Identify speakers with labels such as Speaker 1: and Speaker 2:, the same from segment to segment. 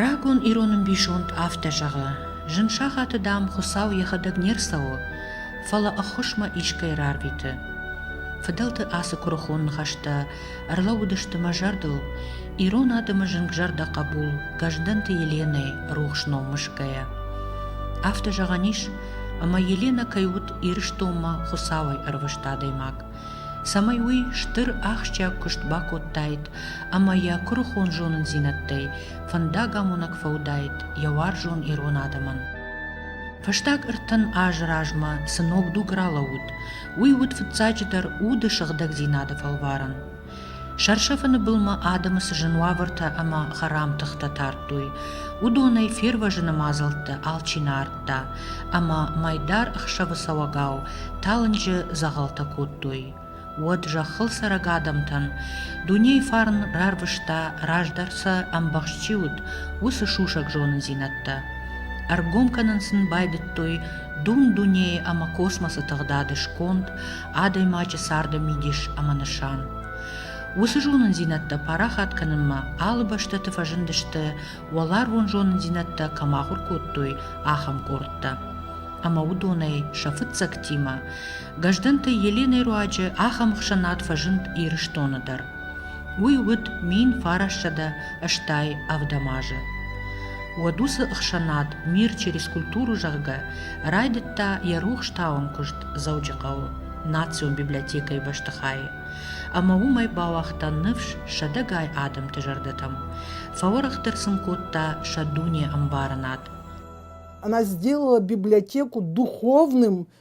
Speaker 1: Рагон ирон ӕмбисонд афтӕ зӕгъы: Зын сахаты, дам, Хуыцау йӕхӕдӕг не рцӕуы, фӕлӕ ӕххуысмӕ искӕй рарвиты. Фыдӕлты ацы куырыхон ныхӕстӕ ӕрлӕууыдысты мӕ зӕрдыл, ирон адӕмы зынгзӕрдӕ хъӕбул Гӕздӕнты Еленӕйы рухс ном мысгӕйӕ. Афтӕ зӕгъӕн ис, ӕмӕ Еленӕ кӕй уыд Ирыстонмӕ Хуыцауӕй ӕрвыст адӕймаг. цӕмӕй уый стыр ахсджиаг куыст бакодтаид ӕмӕ йӕ куырыхон зонындзинӕдтӕй фӕндагамонӕг фӕуыдаид йӕ уарзон ирон адӕмӕн. Фӕстаг ӕртын азы размӕ цы ног дуг ралӕууыд, уый уыд фыццаджыдӕр уды сыгъдӕгдзинады фӕлварӕн. Сӕрсӕфыны былмӕ адӕмы цы зын уавӕртӕ ӕмӕ хӕрам тыхтӕ тардтой, уыдонӕй фервӕзыны мадзӕлтты алчи нӕ ардта, ӕмӕ мӕйдар ӕхсӕвы цӕуӕгау талынджы дзӕгъӕлтӕ кодтой. Уӕд зӕххыл цӕрӕг адӕмтӕн дунейы фарн рарвыста, раздӕр сӕ ӕмбӕхст чи уыд, уыцы сусӕг зонындзинӕдтӕ. Ӕргом кӕнын сын байдыдтой дун дунейы ӕмӕ космосы тыгъдады сконд, адӕймаджы царды мидис ӕмӕ нысан. Уыцы зонындзинӕдтӕ парахат кӕнынмӕ алы бӕстӕты фӕзындысты, уӕларвон зонындзинӕдтӕ кӕм ахуыр кодтой, ахӕм къордтӕ. Ӕмӕ уыдонӕй сӕ фыццӕгтимӕ Гӕздӕнты Еленӕйы руаджы ахӕм ӕхсӕнад фӕзынд Ирыстоны дӕр. Уый уыд мин фарассӕдӕ стӕй ӕвдӕм азы. Уӕд уыцы ӕхсӕнад «Мир через культуру» зӕгъгӕ райдыдта йӕ рухстауӕн куыст Дзӕуджыхъӕуы национ библиотекӕйы бӕстыхайы ӕмӕ уымӕй бауагъта ныфс сӕдӕгай адӕмты зӕрдӕтӕм, фӕуӕрӕхдӕр сын кодта сӕ дуне ӕмбарынад. Она
Speaker 2: сделала библиотеку духовным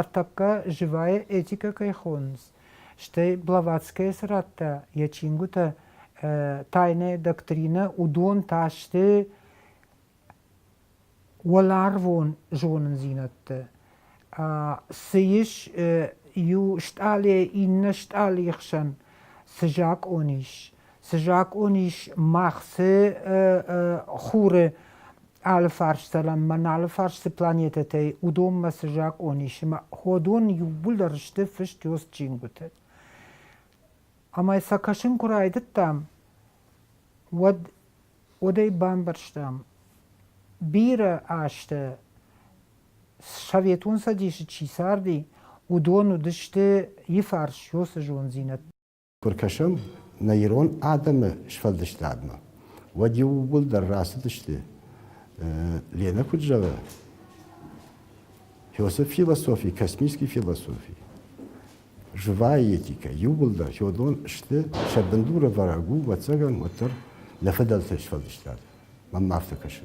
Speaker 2: Ӕртӕккӕ
Speaker 3: живӕй этикӕ кӕй хонынц, стӕй Блаватскӕйы цырӕттӕ, йӕ чингуытӕ, тайная доктринӕ, уыдон та сты уӕларвон зонындзинӕдты. Цы ис иу стъалыйӕ иннӕ стъалыйы хсӕн цы закъон ис, Цы закъон ис мах, цы хуры алы фарсцӕлӕнмӕ, нӕ алы фарсы планетӕтӕй, уыдонмӕ цы закъон ис, ӕмӕ уыдон иууылдӕр сты фыст ёс чингуыты. Ӕмӕ сӕ кӕсын куы райдыдтам, уӕд уӕдӕй бамбӕрстам, бирӕ азты Советон Цӕдисы чи царди, уыдон уыдысты, йы фарс ёсы зондзинӕд Куы ркӕсӕм
Speaker 4: нӕ ирон адӕмы сфӕлдыстадмӕ, уӕд иууылдӕр рацыдысты, Ленӕ куыд зӕгъы, Философ философии, космический философии. Живая этика. Иууылдӕр Феодон сты сӕ бындуры вӕрӕг у, ӕвӕццӕгӕн, уӕддӕр нӕ фыдӕлты сфӕлдыстад. Мӕн ма афтӕ кӕсы.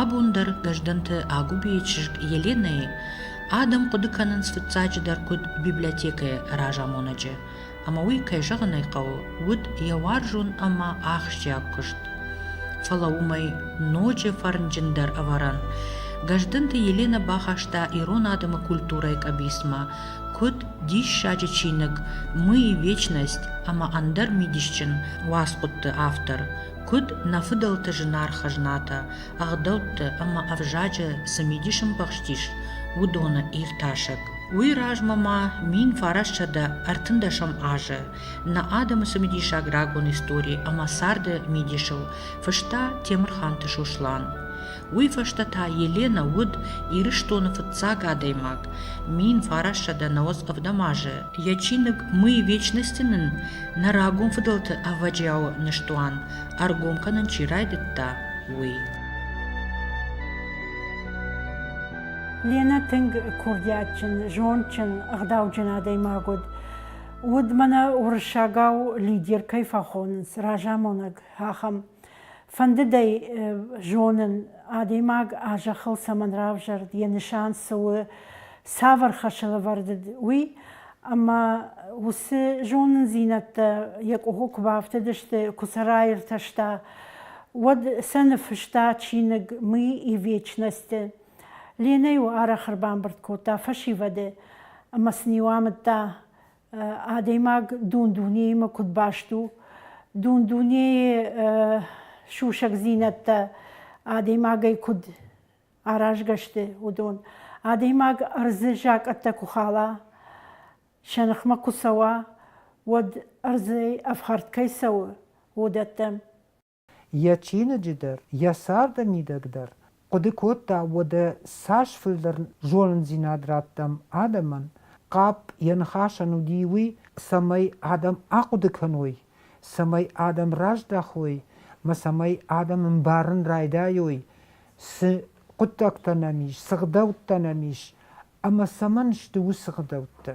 Speaker 1: Абон дӕр Гӕздӕнты Агуыбейы чызг Еленӕйы адӕм хъуыды кӕнынц фыццаджыдӕр куыд библиотекӕйы разамонӕджы, ӕмӕ уый, кӕй зӕгъын ӕй хъӕуы, уыд йӕ уарзон ӕмӕ ахсджиаг куыст. Фӕлӕ уымӕй ноджы фӕрнджындӕр ӕвӕрӕн Гӕздӕнты Еленӕ бахаста ирон адӕмы культурӕйы къӕбицмӕ, Куыд диссаджы чиныг «Мы и вечность» ӕмӕ ӕндӕр мидисджын уацхъуыдты автор, куыд нӕ фыдӕлты зынаргъ хӕзнатӕ, ӕгъдӕутты ӕмӕ ӕвзаджы цы мидис ӕмбӕхстис, уыдоны иртасӕг. Уый размӕ ма мин фарӕссӕдӕ ӕртындӕсӕм азы нӕ адӕмы цымидисаг рагон истори ӕмӕ царды мидисыл фыста Темырханты Сослан. Уый фӕстӕ та Еленӕ уыд Ирыстоны фыццаг адӕймаг, мин фарӕссӕдӕ нӕуӕдз ӕвдӕм азы. Йӕ чиныг «Мы вечности-ы нын нӕ рагон фыдӕлты ӕвӕджиауы ныстуан ӕргом кӕнын чи райдыдта, уый».
Speaker 5: Ленӕ тынг курдиатджын, зондджын, ӕгъдауджын адӕймаг уыд. Уыд мӕнӕ уырыссагау лидер кӕй фӕхонынц, разамонӕг, ахӕм. Фӕндыд ӕй зонын, адӕймаг а зӕххыл цӕмӕн равзӕрд, йӕ нысан цы у, цавӕр хӕсылӕвӕрд уыд, уый. Ӕмӕ уыцы зонындзинӕдтӕ йӕ къухы куы бафтыдысты, куы сӕ раиртӕста, уӕд сӕ ныффыста чиныг Мы и вечность-ы. Ленӕ-иу арӕх ӕрбамбырд кодта фӕсивӕды ӕмӕ сын-иу амыдта адӕймаг дун-дунеимӕ куыд баст у. Дун-дунейы сусӕгдзинӕдтӕ адӕймагӕй куыд аразгӕ сты, уыдон. Адӕймаг ӕрдзы закъӕттӕ куы хала, сӕ ныхмӕ куы цӕуа, уӕд ӕрдзӕй ӕфхӕрд кӕй цӕуы, уыдӕттӕм. йӕ
Speaker 3: чиныджы дӕр, йӕ царды мидӕг дӕр, хъуыды кодта, уӕдӕ цас фылдӕр зонындзинад раттӕм адӕмӕн, хъӕпп йӕ ныхасӕн уыди уый, цӕмӕй адӕм ахъуыды кӕной, цӕмӕй адӕм раздӕхой мӕ цӕмӕй адӕм ӕмбарын райдайой, цы хъуыддӕгтӕ нӕм ис, цы гъдӕуттӕ нӕм ис ӕмӕ цӕмӕн сты уыцы гъдӕуттӕ.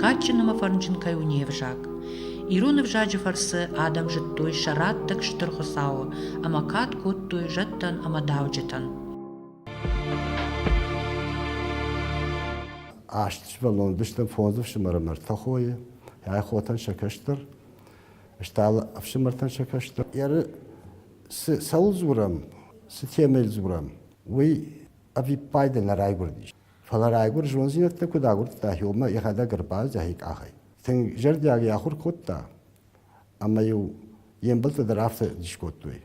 Speaker 1: кадджын ӕмӕ фӕрнджын кӕй у не взаг. Ирон ӕвзаджы фӕрцы адӕм зыдтой сӕ раттӕг Стыр Хуыцауы ӕмӕ кад кодтой зӕдтӕн ӕмӕ дауджытӕн.
Speaker 4: Аст сывӕллон уыдысты фондз ӕфсымӕры мӕрдтӕ хойы, йӕ хотӕн сӕ кӕстӕр, стал ӕфсымӕртӕн сӕ кӕстӕр. Ӕры цы цӕуыл дзурӕм, цы темӕйыл дзурӕм, уый ӕвиппайды нӕ райгуырдис. Фӕлӕ райгуыр зондзинӕдтӕ куыд агуырдта Иомӕ йӕхӕдӕг ӕрбаздӕхи къахӕй. Тынг зӕрдиаг йӕ ахуыр кодта, ӕмӕ-иу йе мбӕлттӕ дӕр афтӕ дис кодтой.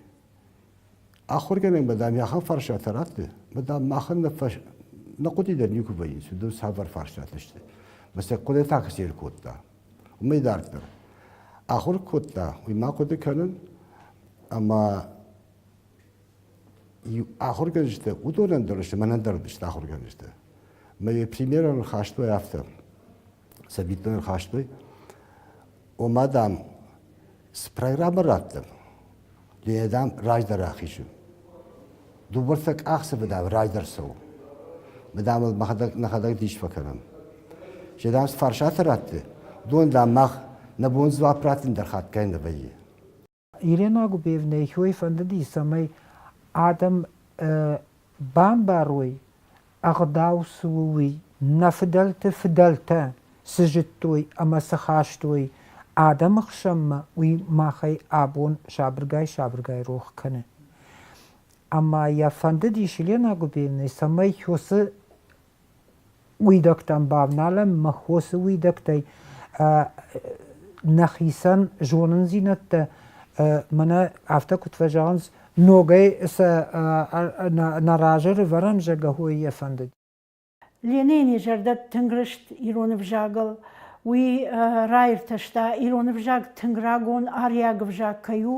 Speaker 4: Ахуыргӕнӕгмӕ, дам, йӕ ахӕм фарстатӕ радты, ӕмӕ, дам, махӕн нӕ, фӕс... нӕ хъуыди дӕр никуы вӕййынц, уыдон цавӕр фарстатӕ сты. Мӕ сӕ хъуыдытӕ куы сӕ кодта, уымӕй дарддӕр. Ахуыр кодта, уый ма хъуыды кӕнын, ӕмӕ ахуыргӕнджытӕ уыдонӕн дӕр сты мӕнӕн дӕр уыдысты ахуыргӕнджытӕ мӕ примерӕ ныхастой афтӕ цӕвиттон ныхастой ома дам цы программӕ раттӕм ленӕ дам раздӕр ахизы дыууӕртӕ къахдзӕфы дам раздӕр цӕуы мы дам ыл мӕхӕдӕг нӕхӕдӕг дис фӕкӕнӕм се дам цы фарсатӕ ратты уыдон дам мах нӕ бон дзуапп раттын дӕр хатгай нӕ вӕййы
Speaker 3: Ирена Губеевнӕйы хойы фӕндыди, цӕмӕй адӕм бамбарой, ӕгъдау цы у, уый, нӕ фыдӕлты фыдӕлтӕ цы зыдтой ӕмӕ цы хастой адӕмы хсӕнмӕ, уый махӕй абон сабыргай-сабыргай рох кӕны. Ӕмӕ йӕ фӕндыдис Елена Губеевнӕ, цӕмӕй уыцы Уидӕгтӕн бавналӕн мӕ хосы уидӕгтӕй нӕхицӕн зонындзинӕдтӕ мӕнӕ афтӕ куыд фӕзӕгъынц, ногӕй сӕ нӕ разы рывӕрӕн зӕгӕхой йӕ фӕндыд. Ленины
Speaker 5: зӕрдӕ тынг рыст ирон ӕвзагыл. Уый раиртӕста, ирон ӕвзаг тынг рагон ариаг ӕвзаг кӕй у.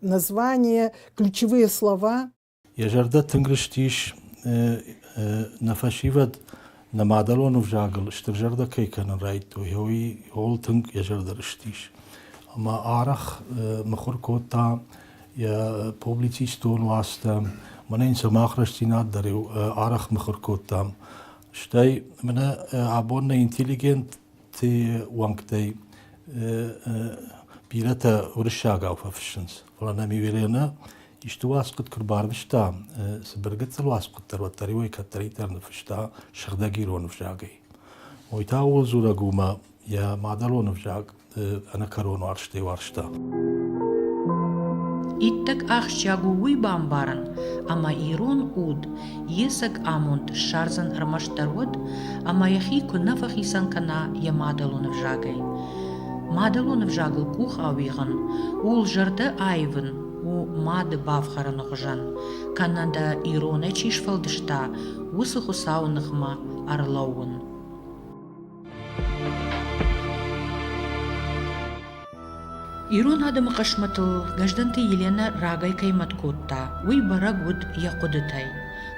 Speaker 2: название, ключевые слова. Йӕ зӕрдӕ тынг
Speaker 6: рыстис нӕ фӕсивӕд нӕ мадӕлон ӕвзагыл стыр зӕрдӕ кӕй кӕнын райдтой, уый ууыл тынг йӕ зӕрдӕ рыстис. Ӕмӕ арӕх мыхуыр кодта йӕ публицистон уацтӕ, мӕнӕ йын сӕ мах рӕстдзинад дӕр арӕх мыхуыр кодтам. Стӕй мӕнӕ абон нӕ интеллигент уӕнгтӕй бирӕтӕ уырыссагау фӕфыссынц. Фӕлӕ нӕм Юлианӕ исты уацхъуыд куы рбарвыста, цыбыр гыццыл уацхъуыддӕр, уӕддӕр-иу ӕй кӕддӕриддӕр ныффыста сыгъдӕг ирон ӕвзагӕй. Мой та ууыл дзурӕг у, ӕмӕ йӕ мадӕлон ӕвзаг ӕнӕкӕрон уарзтӕй уарзта. Иттӕг
Speaker 1: ахсджиаг у уый бамбарын, ӕмӕ ирон уд Есӕг амонд ссардзӕн ӕрмӕстдӕр уӕд, ӕмӕ йӕхи куы нӕ фӕхицӕн кӕна йӕ мадӕлон ӕвзагӕй. Мадӕлон ӕвзагыл къух ауигъын, ууыл зӕрдӕ аивын у мады бафхӕрыны хуызӕн, кӕнӕ дӕ иронӕй чи сфӕлдыста, уыцы Хуыцауы ныхмӕ ӕрлӕууын. Ирон адӕмы хъысмӕтыл Гӕздӕнты Еленӕ рагӕй кӕй мӕт кодта, уый бӕрӕг уыд йӕ хъуыдытӕй.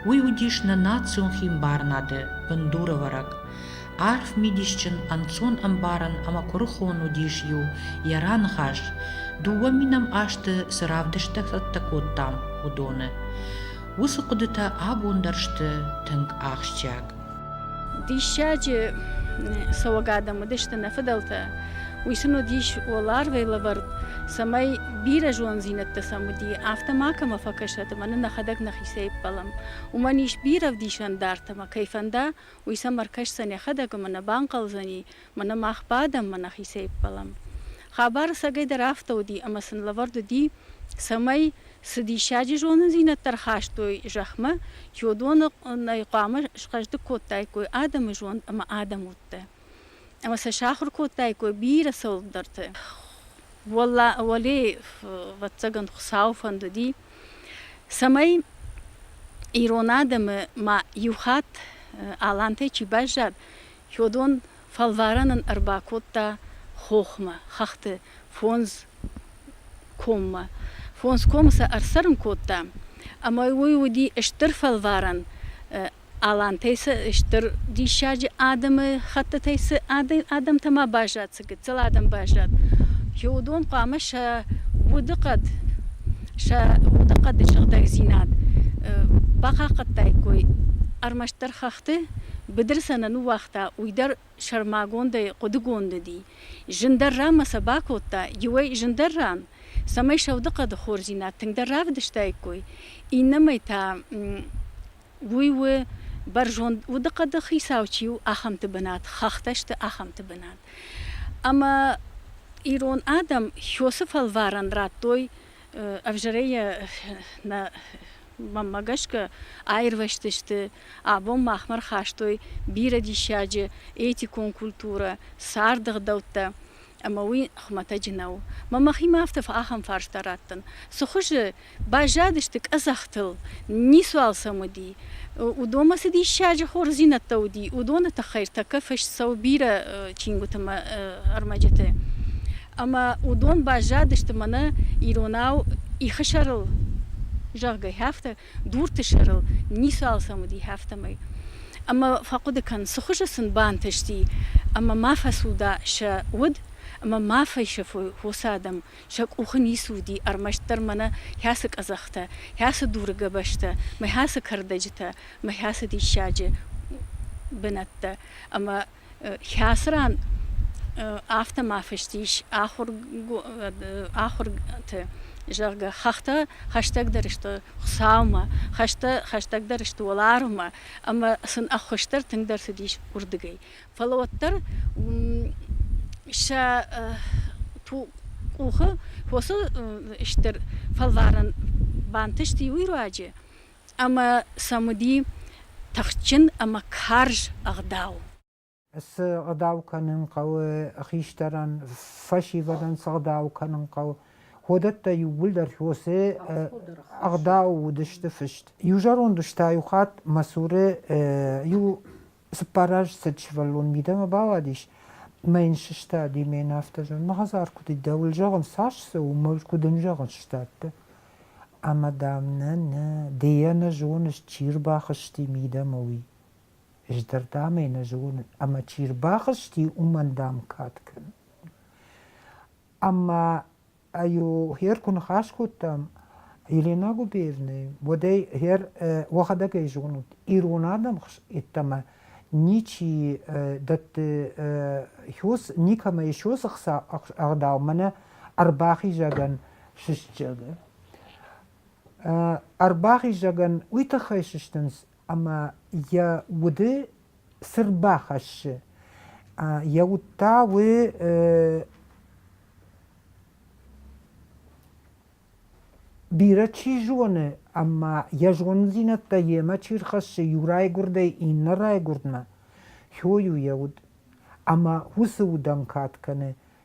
Speaker 1: Уый уыдис нӕ национ химбарынады бындурӕвӕрӕг. Арф мидисджын, ӕнцон ӕмбарӕн ӕмӕ куырыхон уыдис иу йӕ раныхас, дыууӕ минӕм азты цы равдысттӕ цӕттӕ кодтам, уыдоны. Уыцы хъуыдытӕ абон дӕр сты тынг ахсджиаг.
Speaker 7: Диссаджы цӕуӕг адӕм уыдысты нӕ фыдӕлтӕ. Уый сын уыдис уӕларвӕй лӕвӕрд, цӕмӕй бирӕ зондзинӕдтӕ сӕм уыди, афтӕ макӕмӕ фӕкӕсӕт ӕмӕ нын нӕхӕдӕг нӕхицӕй ӕппӕлӕм. Уымӕн ис бирӕ ӕвдисӕн дӕрд ӕмӕ кӕй фӕнда, уый сӕм ӕркӕсдзӕн йӕхӕдӕг ӕмӕ нӕ банхъӕлдзӕни, Мӕнӕ мах бадӕм, мӕ нӕхицӕй ӕппӕлӕм. Хабар ӕцӕгӕйдӕр афтӕ уыди, ӕмӕ сын лӕвӕрд уыди, цӕмӕй, цы диссаджы зонындзинӕдтӕ рхастой зӕхмӕ, чи уыдоны хъуамӕ схъӕздыг кодтаиккой адӕмы зонд ӕмӕ адӕм удтӕ, ӕмӕ сӕ сахуыр кодтаиккой бирӕ цӕуылдӕрты. Уӕле, ӕвӕццӕгӕн, Хуыцауы фӕнд уыди, цӕмӕй ирон адӕмы ма иу хатт алантӕй чи баззад, Чодон фӕлварӕн ын ӕрбакодта хохмӕ, хӕхты фондз коммӕ. Фондз комы сӕ ӕрцӕрын кодта, ӕмӕ уый уыди стыр фӕлварӕн. Алантӕй цы стыр диссаджы адӕмы хӕттытӕй цы адӕмтӕ ма баззад, гыццыл адӕм баззад. Уыдон хъуамӕ сӕ удыхъӕд, сӕ удыхъӕды сыгъдӕгдзинад бахъахъхъӕдтаиккой. Ӕрмӕстдӕр хӕхты быдыр сӕ нӕ ныууагъта, уый дӕр сӕрмагондӕй хъуыдыгонд уыди. Зындӕр ран ма сӕ бакодта иуӕй зындӕр ран, цӕмӕй сӕ удыхъӕды хорздзинад тынгдӕр равдыстаиккой, иннӕмӕй та Уый у бӕрзонд удыхъӕды хицау чи у, ахӕмты бынат, хӕхтӕ сты ахӕмты бынат. Ӕмӕ ирон адӕм Хёсы фӕлварӕн радтой ӕвзӕрӕй нӕ мӕнмӕ гӕсгӕ аирвӕзтысты, абон махмӕ рхастой бирӕ диссаджы этикон культурӕ, царды гъдӕуттӕ. ӕмӕ уый хуымӕтӕджы нӕу. Мӕ мӕхимӕ афтӕ ахӕм фарста раттын, цы хуызы баззадысты къӕдзӕхтыл, ницуал сӕм уыди, уыдонмӕ цы диссаджы хорздзинӕдтӕ уыди, уыдоны тыххӕй ӕртӕккӕ фыст цӕуы бирӕ чингуыты мӕ ӕрмӕджыты. Ӕмӕ уыдон баззадысты мӕнӕ иронау ихы сӕрыл, зӕгъгӕ, афтӕ дурты сӕрыл ницы алцӕм уыди, афтӕмӕй. Ӕмӕ фӕхъуыды кӕн, цы хуызы сын бантысти, ӕмӕ ма фӕцуда сӕ уд, ӕмӕ ма фӕсӕфой хосы адӕм, сӕ къухы ницы уыди ӕрмӕстдӕр мӕнӕ хӕцы къӕдзӕхтӕ, хӕцы дуры гӕбӕзтӕ, мӕ хӕцы кӕрдӕджытӕ, мӕ хӕцы диссаджы бынӕттӕ ӕмӕ Хӕцы ран афтӕ ма фыст ис ахуырты, зӕгъгӕ, хӕхтӕ хӕстӕгдӕр сты Хуыцаумӕ, хӕстӕ хӕстӕгдӕр сты уӕларвмӕ ӕмӕ сын ӕххуысдӕр тынгдӕр цыдис уырдыгӕй. Фӕлӕ уӕддӕр сӕ къухы фосы стыр фӕлварӕн бантысти уый руаджы, ӕмӕ сӕм уыди тыхджын ӕмӕ карз ӕгъдау. Цы
Speaker 3: ӕгъдау кӕнын хъӕуы, хистӕрӕн фӕсивӕдӕн цы ӕгъдау кӕнын хъӕуы, уыдӕттӕ иууылдӕр Хьосе ӕгъдау уыдысты фыст. Иу зӕронд ус та иу хатт мӕ цуры иу Цыппар азы цыд сывӕллон мидӕмӕ бауадис мӕ йын сыстади, мӕ йын афтӕ зӕгъын, мӕ хӕдзар куыд и, дӕуыл зӕгъын, цас цы у, мыл куыд ын зӕгъын сдӕтты. Ӕмӕ, дам, нӕ, нӕ, ды йӕ нӕ зоныс, чи рбахызти мидӕмӕ, уый. Ӕз дӕр, дам, ӕй нӕ зонын, ӕмӕ чи рбахызти, уымӕн, дам, кад кӕн. Ӕмӕ аю гъер ку ныхас кодтам Елена Губеевнӕ, уӕдӕй гъер уӕхӕдӕг ӕй зонут, ирон адӕм йеддӕмӕ ничи дӕтты хёс, никӕмӕ еще цы хца ӕгъдау мӕнӕ ӕрбахизӕгӕн сыстджыны. Ӕрбахизӕгӕн уый тыххӕй сыстынц ӕмӕ йӕ уды цырд бахӕссы. Йӕ уд та у бирӕ чи зоны, ӕмӕ йӕ зонындзинӕдтӕ йемӕ чи рхӕссы иу райгуырдӕй иннӕ райгуырдмӕ, хойы йӕ уд. Ӕмӕ уыцы удӕн кад кӕны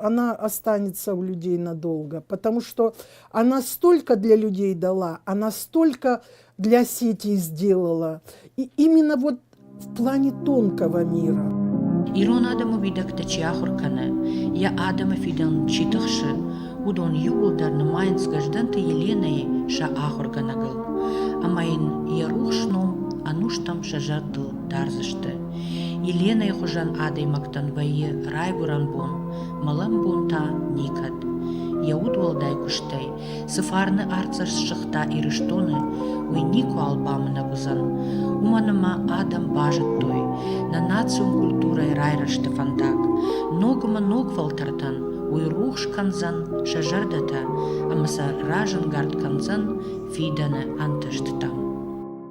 Speaker 2: она останется у людей надолго, потому что она столько для людей дала, она столько для сети сделала. И именно вот в плане тонкого мира. Ирон адӕмы
Speaker 1: уидӕгтӕ чи ахуыр кӕны, йӕ адӕмы фидӕн чи тыхсы, уыдон иууылдӕр нымайынц Гӕздӕнты Еленӕйы сӕ ахуыргӕнӕгыл, ӕмӕ йын йӕ рухс ном ӕнустӕм сӕ зӕрдыл дардзысты. Еленӕйы хуызӕн адӕймӕгтӕн вӕййы райгуырӕн бон, мӕлӕн бон та никӕд. Йӕ удуӕлдай куыстӕй цы фарны артдзӕст сыгъта Ирыстоны, уый никуал бамынӕг уыдзӕн. Уымӕн ӕмӕ адӕм базыдтой нӕ национ культурӕйы райрӕзты фӕндаг. Ног ӕмӕ ног фӕлтӕртӕн уый рухс кӕндзӕн сӕ зӕрдӕтӕ ӕмӕ сӕ разӕнгард кӕндзӕн фидӕны ӕнтыстытӕм.